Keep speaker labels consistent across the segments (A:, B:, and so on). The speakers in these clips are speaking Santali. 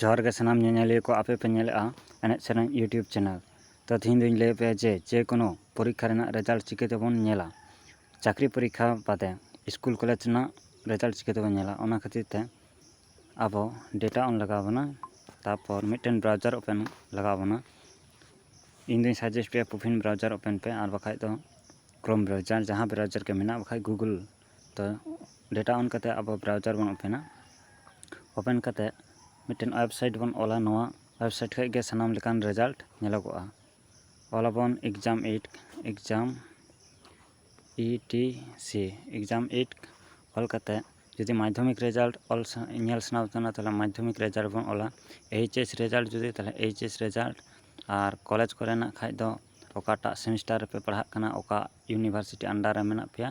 A: ᱡᱚᱦᱟᱨ ᱜᱮ ᱥᱟᱱᱟᱢ ᱧᱮᱧᱮᱞᱤᱭᱟᱹ ᱠᱚ ᱟᱯᱮ ᱯᱮ ᱧᱮᱞᱮᱫᱼᱟ ᱮᱱᱮᱡ ᱥᱮᱨᱮᱧ ᱤᱭᱩᱴᱩᱵᱽ ᱪᱮᱱᱮᱞ ᱛᱚ ᱛᱮᱦᱮᱧ ᱫᱚᱧ ᱞᱟᱹᱭ ᱟᱯᱮᱭᱟ ᱡᱮ ᱡᱮ ᱠᱳᱱᱳ ᱯᱚᱨᱤᱠᱠᱷᱟ ᱨᱮᱱᱟᱜ ᱨᱮᱡᱟᱞᱴ ᱪᱤᱠᱟᱹ ᱛᱮᱵᱚᱱ ᱧᱮᱞᱟ ᱪᱟᱹᱠᱨᱤ ᱯᱚᱨᱤᱠᱠᱷᱟ ᱵᱟᱫᱮ ᱥᱠᱩᱞ ᱠᱚᱞᱮᱡᱽ ᱨᱮᱱᱟᱜ ᱨᱮᱡᱟᱞᱴ ᱪᱤᱠᱟᱹ ᱛᱮᱵᱚᱱ ᱧᱮᱞᱟ ᱚᱱᱟ ᱠᱷᱟᱹᱛᱤᱨ ᱛᱮ ᱟᱵᱚ ᱰᱮᱴᱟ ᱚᱱ ᱞᱟᱜᱟᱣ ᱵᱚᱱᱟ ᱛᱟᱨᱯᱚᱨ ᱢᱤᱫᱴᱮᱱ ᱵᱨᱟᱣᱡᱟᱨ ᱳᱯᱮᱱ ᱞᱟᱜᱟᱣ ᱵᱚᱱᱟ ᱤᱧ ᱫᱚᱧ ᱥᱟᱡᱮᱥᱴ ᱯᱮᱭᱟ ᱯᱩᱯᱷᱤᱱ ᱵᱨᱟᱣᱡᱟᱨ ᱳᱯᱮᱱ ᱯᱮ ᱟᱨ ᱵᱟᱠᱷᱟᱡ ᱫᱚ ᱠᱨᱳᱢ ᱵᱨᱟᱣᱡᱟᱨ ᱡᱟᱦᱟᱸ ᱵᱨᱟᱣᱡᱟᱨ ᱜᱮ ᱢᱮᱱᱟᱜ ᱵᱟᱠᱷᱟᱡ ᱜᱩᱜᱩᱞ ᱛᱚ ᱰᱮᱴᱟ ᱚᱱ ᱠᱟᱛᱮ ᱟᱵᱚ ᱵᱨᱟᱣᱡᱟᱨ ᱵᱚᱱ ᱳᱯᱮᱱᱟ ᱳᱯᱮᱱ ᱠᱟᱛᱮ ᱢᱤᱫᱴᱮᱱ ᱳᱭᱮᱵᱥᱟᱭᱤᱴ ᱵᱚᱱ ᱚᱞᱟ ᱱᱚᱣᱟ ᱳᱭᱮᱵᱥᱟᱭᱤᱴ ᱠᱷᱚᱡ ᱜᱮ ᱥᱟᱱᱟᱢ ᱞᱮᱠᱟᱱ ᱨᱮᱡᱟᱞᱴ ᱧᱮᱞᱚᱜᱚᱜᱼᱟ ᱚᱞ ᱟᱵᱚᱱ exam eight exam E T C exam eight ᱚᱞ ᱠᱟᱛᱮ ᱡᱩᱫᱤ ᱢᱟᱫᱽᱫᱷᱚᱢᱤᱠ ᱨᱮᱡᱟᱞᱴ ᱚᱞ ᱧᱮᱞ ᱥᱟᱱᱟ ᱵᱚᱱ ᱠᱟᱱᱟ ᱛᱟᱦᱚᱞᱮ ᱢᱟᱫᱽᱫᱷᱚᱢᱤᱠ ᱨᱮᱡᱟᱞᱴ ᱵᱚᱱ ᱚᱞᱟ ᱮᱭᱤᱪ ᱮᱥ ᱨᱮᱡᱟᱞᱴ ᱡᱩᱫᱤ ᱛᱟᱦᱚᱞᱮ ᱮᱭᱤᱪ ᱮᱥ ᱨᱮᱡᱟᱞᱴ ᱟᱨ ᱠᱚᱞᱮᱡᱽ ᱠᱚᱨᱮᱱᱟᱜ ᱠᱷᱟᱡ ᱫᱚ ᱚᱠᱟᱴᱟᱜ ᱥᱮᱢᱤᱥᱴᱟᱨ ᱨᱮᱯᱮ ᱯᱟᱲᱦᱟᱜ ᱠᱟᱱᱟ ᱚᱠᱟ ᱤᱭᱩᱱᱤᱵᱷᱟᱨᱥᱤᱴᱤ ᱟᱱᱰᱟᱨ ᱨᱮ ᱢᱮᱱᱟᱜ ᱯᱮᱭᱟ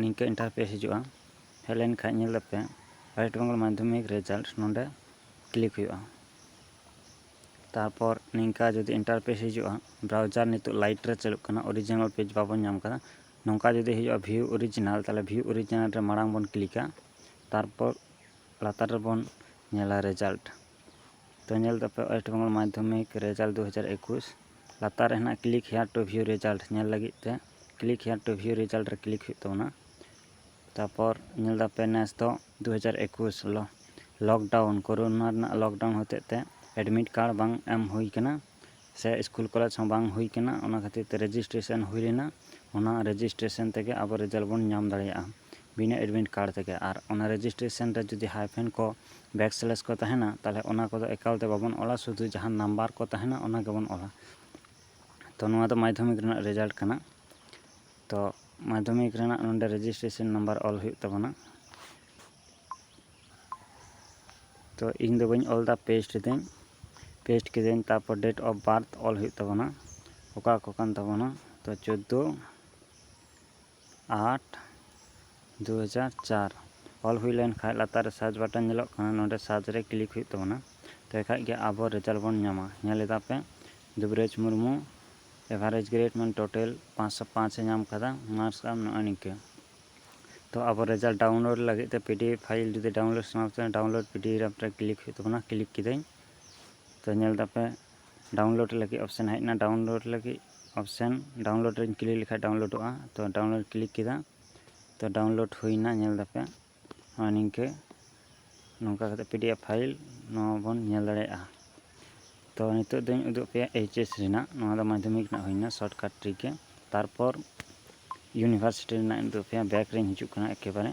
A: ᱱᱤᱝᱠᱟᱹ ᱤᱱᱴᱟᱨᱯᱷᱮᱥ ᱦᱤᱡᱩᱜᱼᱟ ᱦᱮᱡ ᱞᱮᱱ ᱠᱷᱟᱱ ᱧᱮᱞ ᱟᱯᱮ ᱳᱭᱮᱥᱴ ᱵᱮᱝᱜᱚᱞ ᱢᱟᱫᱽᱫᱷᱚᱢᱤᱠ ᱨᱮᱡᱟᱞᱴ ᱱᱚᱰᱮ ᱠᱞᱤᱠ ᱦᱩᱭᱩᱜᱼᱟ ᱛᱟᱨᱯᱚᱨ ᱱᱤᱝᱠᱟ ᱡᱩᱫᱤ ᱤᱱᱴᱟᱨᱯᱷᱮᱥ ᱦᱤᱡᱩᱜᱼᱟ ᱵᱨᱟᱣᱡᱟᱨ ᱱᱤᱛᱚᱜ ᱞᱟᱭᱤᱴ ᱨᱮ ᱪᱟᱹᱞᱩᱜ ᱠᱟᱱᱟ ᱚᱨᱤᱡᱤᱱᱟᱞ ᱯᱮᱡᱽ ᱵᱟᱵᱚᱱ ᱧᱟᱢ ᱟᱠᱟᱫᱟ ᱱᱚᱝᱠᱟ ᱡᱩᱫᱤ ᱦᱤᱡᱩᱜᱼᱟ ᱵᱷᱤᱭᱩ ᱚᱨᱤᱡᱤᱱᱟᱞ ᱛᱟᱦᱚᱞᱮ ᱵᱷᱤᱭᱩ ᱚᱨᱤᱡᱤᱱᱟᱞ ᱨᱮ ᱢᱟᱲᱟᱝ ᱵᱚᱱ ᱠᱞᱤᱠᱟ ᱛᱟᱨᱯᱚᱨ ᱞᱟᱛᱟᱨ ᱨᱮᱵᱚᱱ ᱧᱮᱞᱟ ᱨᱮᱡᱟᱞᱴ ᱛᱚ ᱧᱮᱞ ᱛᱟᱯᱮ ᱳᱭᱮᱥᱴ ᱵᱮᱝᱜᱚᱞ ᱢᱟᱫᱽᱫᱷᱚᱢᱤᱠ ᱨᱮᱡᱟᱞᱴ ᱫᱩ ᱦᱟᱡᱟᱨ ᱮᱠᱩᱥ ᱞᱟᱛᱟᱨ ᱨᱮ ᱦᱮᱱᱟᱜ click here to view result ᱧᱮᱞ ᱞᱟᱹᱜᱤᱫ ᱛᱮ click here to view result ᱨᱮ ᱠᱞᱤᱠ ᱦᱩᱭᱩᱜ ᱛᱟᱵᱚᱱᱟ ᱛᱟᱨᱯᱚᱨ ᱧᱮᱞ ᱫᱟᱯᱮ ᱱᱮᱥ ᱫᱚ ᱫᱩ ᱦᱟᱡᱟᱨ ᱮᱠᱩᱥ ᱦᱤᱞᱳᱜ ᱞᱚᱠᱰᱟᱣᱩᱱ ᱠᱳᱨᱳᱱᱟ ᱨᱮᱱᱟᱜ ᱞᱚᱠᱰᱟᱣᱩᱱ ᱦᱚᱛᱮᱡ ᱛᱮ ᱮᱰᱢᱤᱴ ᱠᱟᱨᱰ ᱵᱟᱝ ᱮᱢ ᱦᱩᱭ ᱠᱟᱱᱟ ᱥᱮ ᱤᱥᱠᱩᱞ ᱠᱚᱞᱮᱡᱽ ᱦᱚᱸ ᱵᱟᱝ ᱦᱩᱭ ᱠᱟᱱᱟ ᱚᱱᱟ ᱠᱷᱟᱹᱛᱤᱨ ᱛᱮ ᱨᱮᱡᱤᱥᱴᱨᱮᱥᱚᱱ ᱦᱩᱭ ᱞᱮᱱᱟ ᱚᱱᱟ ᱨᱮᱡᱤᱥᱴᱨᱮᱥᱚᱱ ᱛᱮᱜᱮ ᱟᱵᱚ ᱨᱮᱡᱟᱞᱴ ᱵᱚᱱ ᱧᱟᱢ ᱫᱟᱲᱮᱭᱟᱜᱼᱟ ᱵᱤᱱᱟᱹ ᱮᱰᱢᱤᱴ ᱠᱟᱨᱰ ᱛᱮᱜᱮ ᱟᱨ ᱚᱱᱟ ᱨᱮᱡᱤᱥᱴᱨᱮᱥᱚᱱ ᱨᱮ ᱡᱩᱫᱤ ᱦᱟᱭᱯᱷᱮᱱ ᱠᱚ ᱵᱮᱠ ᱥᱞᱮᱥ ᱠᱚ ᱛᱟᱦᱮᱱᱟ ᱛᱟᱦᱚᱞᱮ ᱚᱱᱟ ᱠᱚᱫᱚ ᱮᱠᱟᱞ ᱛᱮ ᱵᱟᱵᱚᱱ ᱚᱞᱟ ᱥᱩᱫᱷᱩ ᱡᱟᱦᱟᱸ ᱱᱟᱢᱵᱟᱨ ᱠᱚ ᱛᱟᱦᱮᱱᱟ ᱚᱱᱟ ᱜᱮᱵᱚᱱ ᱚᱞᱟ ᱛᱚ ᱱᱚᱣᱟ ᱫᱚ ᱢᱟᱫᱽᱫᱷᱚᱢᱤᱠ ᱨᱮᱱᱟᱜ ᱨᱮᱡᱟᱞᱴ ᱠᱟᱱᱟ ᱛᱚ ᱢᱟᱫᱽᱫᱷᱚᱢᱤᱠ ᱨᱮᱱᱟᱜ ᱱᱚᱰᱮ ᱨᱮᱡᱤᱥᱴᱨᱮᱥᱚᱱ ᱱᱟᱢᱵᱟᱨ ᱚᱞ ᱦᱩᱭᱩᱜ ᱛᱟᱵᱚᱱᱟ ᱛᱚ ᱤᱧ ᱫᱚ ᱵᱟᱹᱧ ᱚᱞ ᱮᱫᱟ ᱯᱮᱥᱴ ᱮᱫᱟᱹᱧ ᱯᱮᱥᱴ ᱠᱤᱫᱟᱹᱧ ᱛᱟᱨᱯᱚᱨ ᱰᱮᱴ ᱚᱯᱷ ᱵᱟᱨᱛᱷ ᱚᱞ ᱦᱩᱭᱩᱜ ᱛᱟᱵᱚᱱᱟ ᱚᱠᱟ ᱠᱚ ᱠᱟᱱ ᱛᱟᱵᱚᱱᱟ ᱛᱚ ᱪᱳᱫᱫᱳ ᱟᱴ ᱫᱩ ᱦᱟᱡᱟᱨ ᱪᱟᱨ ᱚᱞ ᱦᱩᱭ ᱞᱮᱱ ᱠᱷᱟᱱ ᱞᱟᱛᱟᱨ ᱨᱮ ᱥᱟᱨᱪ ᱵᱟᱴᱚᱱ ᱧᱮᱞᱚᱜ ᱠᱟᱱᱟ ᱱᱚᱸᱰᱮ ᱥᱟᱨᱪ ᱨᱮ ᱠᱞᱤᱠ ᱦᱩᱭᱩᱜ ᱛᱟᱵᱚᱱᱟ ᱛᱚᱵᱮ ᱠᱷᱟᱱ ᱜᱮ ᱟᱵᱚ ᱨᱮᱡᱟᱞᱴ ᱵᱚᱱ ᱧᱟᱢᱟ ᱧᱮᱞ ᱮᱫᱟ ᱯᱮ ᱫᱩᱵᱽᱨᱟᱡᱽ ᱢᱩᱨᱢᱩ ᱮᱵᱷᱟᱨᱮᱡᱽ ᱜᱨᱮᱰ ᱢᱟᱱᱮ ᱴᱳᱴᱟᱞ ᱯᱟᱸᱪ ᱥᱚ ᱯᱟᱸᱪ ᱮ ᱧᱟᱢ ᱟᱠᱟᱫᱟ ᱢᱟᱨᱠᱥ ᱟᱢ ᱱᱚᱜᱼᱚᱭ ᱱᱤᱝᱠᱟᱹ ᱛᱚ ᱟᱵᱚ ᱨᱮᱡᱟᱞᱴ ᱰᱟᱣᱩᱱᱞᱳᱰ ᱞᱟᱹᱜᱤᱫ ᱛᱮ ᱯᱤ ᱰᱤ ᱮᱯᱷ ᱯᱷᱟᱭᱤᱞ ᱡᱩᱫᱤ ᱰᱟᱣᱩᱱᱞᱳᱰ ᱥᱟᱱᱟ ᱯᱮ ᱰᱟᱣᱩᱱᱞᱳᱰ ᱯᱤ ᱰᱤ ᱮᱯᱷ ᱨᱮ ᱠᱞᱤᱠ ᱦᱩᱭᱩᱜ ᱛᱟᱵᱚᱱᱟ ᱠᱞᱤᱠ ᱠᱤᱫᱟᱹᱧ ᱛᱚ ᱧᱮᱞ ᱮᱫᱟ ᱯᱮ ᱰᱟᱣᱩᱱᱞᱳᱰ ᱞᱟᱹᱜᱤᱫ ᱚᱯᱥᱮᱱ ᱦᱮᱡ ᱮᱱᱟ ᱰᱟᱣᱩᱱᱞᱳᱰ ᱞᱟᱹᱜᱤᱫ ᱚᱯᱥᱮᱱ ᱰᱟᱣᱩᱱᱞᱳᱰ ᱨᱮᱧ ᱠᱞᱤᱠ ᱞᱮᱠᱷᱟᱡ ᱰᱟᱣᱩᱱᱞᱳᱰᱚᱜᱼᱟ ᱛᱚ ᱰᱟᱣᱩᱱᱞᱳᱰ ᱠᱞᱤᱠ ᱠᱮᱫᱟ ᱛᱚ ᱰᱟᱣᱩᱱᱞᱳᱰ ᱦᱩᱭᱱᱟ ᱧᱮᱞ ᱫᱟᱯᱮ ᱱᱚᱜᱼᱚᱭ ᱱᱤᱝᱠᱟᱹ ᱱᱚᱝᱠᱟ ᱠᱟᱛᱮ ᱯᱤ ᱰᱤ ᱮᱯᱷ ᱯᱷᱟᱭᱤᱞ ᱱᱚᱣᱟ ᱵᱚᱱ ᱧᱮᱞ ᱫᱟᱲᱮᱭᱟᱜᱼᱟ ᱛᱚ ᱱᱤᱛᱚᱜ ᱫᱚᱧ ᱩᱫᱩᱜ ᱯᱮᱭᱟ ᱮᱭᱤᱪ ᱮᱥ ᱨᱮᱱᱟᱜ ᱱᱚᱣᱟ ᱫᱚ ᱢᱟᱫᱽᱫᱷᱚᱢᱤᱠ ᱨᱮᱱᱟᱜ ᱦᱩᱭᱱᱟ ᱥᱚᱨᱴᱠᱟᱴ ᱴᱨᱤᱠ ᱜᱮ ᱛᱟᱨᱯᱚᱨ ᱤᱭᱩᱱᱤᱵᱷᱟᱨᱥᱤᱴᱤ ᱨᱮᱱᱟᱜ ᱤᱧ ᱩᱫᱩᱜ ᱯᱮᱭᱟ ᱵᱮᱠ ᱨᱮᱧ ᱦᱤᱡᱩᱜ ᱠᱟᱱᱟ ᱮᱠᱮᱵᱟᱨᱮ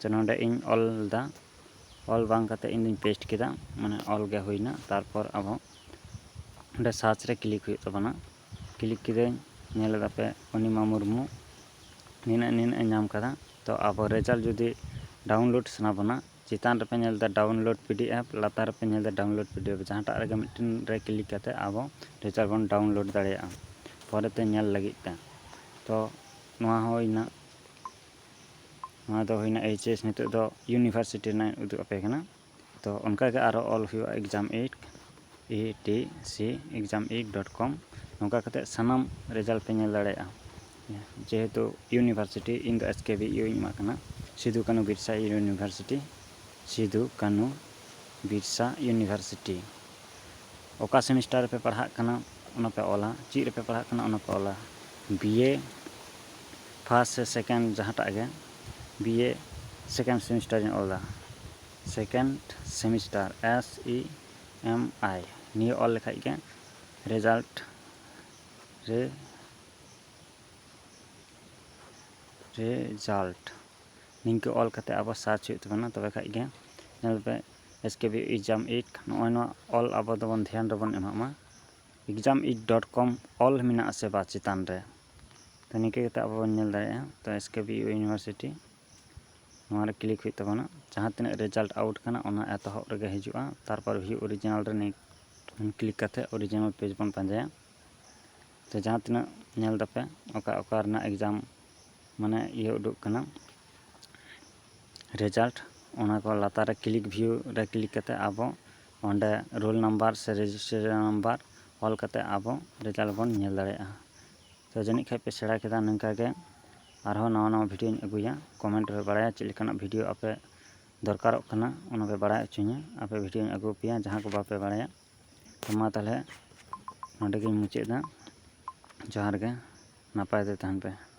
A: ᱛᱚ ᱱᱚᱰᱮ ᱤᱧ ᱚᱞ ᱞᱮᱫᱟ ᱚᱞ ᱵᱟᱝ ᱠᱟᱛᱮᱫ ᱤᱧ ᱫᱚᱧ ᱯᱮᱥᱴ ᱠᱮᱫᱟ ᱢᱟᱱᱮ ᱚᱞ ᱜᱮ ᱦᱩᱭᱱᱟ ᱛᱟᱨᱯᱚᱨ ᱟᱵᱚ ᱚᱸᱰᱮ ᱥᱟᱨᱪ ᱨᱮ ᱠᱞᱤᱠ ᱦᱩᱭᱩᱜ ᱛᱟᱵᱚᱱᱟ ᱠᱞᱤᱠ ᱠᱤᱫᱟᱹᱧ ᱧᱮᱞ ᱮᱫᱟ ᱯᱮ ᱚᱱᱤᱢᱟ ᱢᱩᱨᱢᱩ ᱱᱤᱱᱟᱹᱜ ᱱᱤᱱᱟᱹᱜ ᱮ ᱧᱟᱢ ᱠᱟᱫᱟ ᱛᱚ ᱟᱵᱚ ᱨᱮᱡᱟᱞᱴ ᱡᱩᱫᱤ ᱰᱟᱣᱩᱱᱞᱳᱰ ᱥᱟᱱᱟ ᱵᱚᱱᱟ ᱪᱮᱛᱟᱱ ᱨᱮᱯᱮ ᱧᱮᱞ ᱮᱫᱟ ᱰᱟᱣᱩᱱᱞᱳᱰ ᱯᱤ ᱰᱤ ᱮᱯᱷ ᱞᱟᱛᱟᱨ ᱨᱮᱯᱮ ᱧᱮᱞ ᱮᱫᱟ ᱰᱟᱣᱩᱱᱞᱳᱰ ᱯᱤ ᱰᱤ ᱮᱯᱷ ᱡᱟᱦᱟᱸᱴᱟᱜ ᱨᱮᱜᱮ ᱢᱤᱫᱴᱮᱱ ᱨᱮ ᱠᱞᱤᱠ ᱠᱟᱛᱮᱫ ᱟᱵᱚ ᱨᱮᱡᱟᱞᱴ ᱵᱚᱱ ᱰᱟᱣᱩᱱᱞᱳᱰ ᱫᱟᱲᱮᱭᱟᱜᱼᱟ ᱯᱚᱨᱮᱛᱮ ᱧᱮᱞ ᱞᱟᱹᱜᱤᱫ ᱛᱮ ᱛᱚ ᱱᱚᱣᱟ ᱦᱩᱭᱱᱟ ᱱᱚᱣᱟ ᱫᱚ ᱦᱩᱭᱱᱟ ᱮᱭᱤᱪ ᱮᱥ ᱱᱤᱛᱚᱜ ᱫᱚ ᱤᱭᱩᱱᱤᱵᱷᱟᱨᱥᱤᱴᱤ ᱨᱮᱱᱟᱜ ᱩᱫᱩᱜ ᱟᱯᱮ ᱠᱟᱱᱟ ᱛᱚ ᱚᱱᱠᱟ ᱜᱮ ᱟᱨᱚ ᱚᱞ ᱦᱩᱭᱩᱜᱼᱟ exam eight E T C exam eight dot com ᱱᱚᱝᱠᱟ ᱠᱟᱛᱮ ᱥᱟᱱᱟᱢ ᱨᱮᱡᱟᱞᱴ ᱯᱮ ᱧᱮᱞ ᱫᱟᱲᱮᱭᱟᱜᱼᱟ ᱡᱮᱦᱮᱛᱩ ᱤᱭᱩᱱᱤᱵᱷᱟᱨᱥᱤᱴᱤ ᱤᱧ ᱫᱚ ᱮᱥ ᱠᱮ ᱵᱤ ᱤᱭᱩ ᱤᱧ ᱮᱢᱟᱜ ᱠᱟᱱᱟ ᱥᱤᱫᱩ ᱠᱟᱹᱱᱩ ᱵᱤᱨᱥᱟ ᱤᱭᱩᱱᱤᱵᱷᱟᱨᱥᱤᱴᱤ ᱥᱤᱫᱩ ᱠᱟᱹᱱᱩ ᱵᱤᱨᱥᱟ ᱤᱭᱩᱱᱤᱵᱷᱟᱨᱥᱤᱴᱤ ᱚᱠᱟ ᱥᱮᱢᱤᱥᱴᱟᱨ ᱨᱮᱯᱮ ᱯᱟᱲᱦᱟᱜ ᱠᱟᱱᱟ ᱚᱱᱟ ᱯᱮ ᱚᱞᱟ ᱪᱮᱫ ᱨᱮᱯᱮ ᱯᱟᱲᱦᱟᱜ ᱠᱟᱱᱟ ᱚᱱᱟ ᱯᱮ ᱚᱞᱟ ᱵᱤᱭᱮ ᱯᱷᱟᱥᱴ ᱥᱮ ᱥᱮᱠᱮᱱᱰ ᱡᱟᱦᱟᱸᱴᱟᱜ ᱜᱮ ᱵᱤᱭᱮ ᱥᱮᱠᱮᱱᱰ ᱥᱮᱢᱤᱥᱴᱟᱨ ᱤᱧ ᱚᱞᱫᱟ second semester S E M I ᱱᱤᱭᱟᱹ ᱚᱞ ᱞᱮᱠᱷᱟᱡ ᱜᱮ ᱨᱮᱡᱟᱞᱴ ᱨᱮ ᱨᱮᱡᱟᱞᱴ ᱱᱤᱝᱠᱟᱹ ᱚᱞ ᱠᱟᱛᱮ ᱟᱵᱟᱨ ᱥᱟᱨᱪ ᱦᱩᱭᱩᱜ ᱛᱟᱵᱚᱱᱟ ᱛᱚᱵᱮ ᱠᱷᱟᱡ ᱜᱮ ᱧᱮᱞ ᱯᱮ S K B exam it ᱱᱚᱜᱼᱚᱭ ᱱᱚᱣᱟ ᱚᱞ ᱟᱵᱚ ᱫᱚᱵᱚᱱ ᱫᱷᱮᱭᱟᱱ ᱨᱮᱵᱚᱱ ᱮᱢᱟᱜ ᱢᱟ ᱮᱠᱡᱟᱢ ᱤᱴ ᱰᱚᱴ ᱠᱚᱢ ᱚᱞ ᱢᱮᱱᱟᱜ ᱟᱥᱮ ᱵᱟᱝ ᱪᱮᱛᱟᱱ ᱨᱮ ᱛᱚ ᱱᱤᱝᱠᱟᱹ ᱠᱟᱛᱮᱫ ᱟᱵᱚ ᱵᱚᱱ ᱧᱮᱞ ᱫᱟᱲᱮᱭᱟᱜᱼᱟ ᱛᱚ ᱮᱥ ᱠᱮ ᱵᱤ ᱤᱭᱩᱱᱤᱵᱷᱟᱨᱥᱤᱴᱤ ᱱᱚᱣᱟ ᱨᱮ ᱠᱞᱤᱠ ᱦᱩᱭᱩᱜ ᱛᱟᱵᱚᱱᱟ ᱡᱟᱦᱟᱸ ᱛᱤᱱᱟᱹᱜ ᱨᱮᱡᱟᱞᱴ ᱟᱣᱩᱴ ᱠᱟᱱᱟ ᱚᱱᱟ ᱮᱛᱚᱦᱚᱵ ᱨᱮᱜᱮ ᱦᱤᱡᱩᱜᱼᱟ ᱛᱟᱨᱯᱚᱨ ᱵᱷᱤᱭᱩ ᱚᱨᱤᱡᱤᱱᱟᱞ ᱨᱮ ᱠᱞᱤᱠ ᱠᱟᱛᱮᱫ ᱚᱨᱤᱡᱤᱱᱟᱞ ᱯᱮᱡᱽ ᱵᱚᱱ ᱯᱟᱸᱡᱟᱭᱟ ᱛᱚ ᱡᱟᱦᱟᱸ ᱛᱤᱱᱟᱹᱜ ᱧᱮᱞ ᱫᱟᱯᱮ ᱚᱠᱟ ᱚᱠᱟ ᱨᱮᱱᱟᱜ ᱮᱠᱡᱟᱢ ᱢᱟᱱᱮ ᱤᱭᱟᱹ ᱩᱰᱩᱠ ᱠᱟᱱᱟ ᱨᱮᱡᱟᱞᱴ ᱚᱱᱟ ᱠᱚ ᱞᱟᱛᱟᱨ ᱨᱮ ᱠᱞᱤᱠ ᱵᱷᱤᱭᱩ ᱨᱮ ᱠᱞᱤᱠ ᱠᱟᱛᱮᱫ ᱟᱵᱚ ᱚᱸᱰᱮ ᱨᱳᱞ ᱱᱟᱢᱵᱟᱨ ᱥᱮ ᱨᱮᱡᱤᱥᱴᱨᱮᱥᱚᱱ ᱱᱟᱢᱵᱟᱨ ᱚᱞ ᱠᱟᱛᱮᱫ ᱟᱵᱚ ᱨᱮᱡᱟᱞᱴ ᱵᱚᱱ ᱧᱮᱞ ᱫᱟᱲᱮᱭᱟᱜᱼᱟ ᱛᱳ ᱡᱟᱹᱱᱤᱡ ᱠᱷᱟᱱ ᱯᱮ ᱥᱮᱬᱟ ᱠᱮᱫᱟ ᱱᱤᱝᱠᱟ ᱜᱮ ᱟᱨᱦᱚᱸ ᱱᱟᱣᱟ ᱱᱟᱣᱟ ᱵᱷᱤᱰᱭᱳᱧ ᱟᱹᱜᱩᱭᱟ ᱠᱚᱢᱮᱱᱴ ᱨᱮ ᱵᱟᱲᱟᱭᱟ ᱪᱮᱫ ᱞᱮᱠᱟᱱᱟᱜ ᱵᱷᱤᱰᱭᱳ ᱟᱯᱮ ᱫᱚᱨᱠᱟᱨᱚᱜ ᱠᱟᱱᱟ ᱚᱱᱟ ᱯᱮ ᱵᱟᱲᱟᱭ ᱦᱚᱪᱚᱧᱟ ᱟᱯᱮ ᱵᱷᱤᱰᱭᱳᱧ ᱟᱹᱜᱩ ᱟᱯᱮᱭᱟ ᱡᱟᱦᱟᱸ ᱠᱚ ᱵᱟᱯᱮ ᱵᱟᱲᱟᱭᱟ ᱛᱳ ᱢᱟ ᱛᱟᱦᱚᱞᱮ ᱱᱚᱰᱮ ᱜᱤᱧ ᱢᱩᱪᱟᱹᱫ ᱮᱫᱟ ᱡᱚᱦᱟᱨ ᱜᱮ ᱱᱟᱯᱟᱭ ᱛᱮ ᱛᱟᱦᱮᱱ ᱯᱮ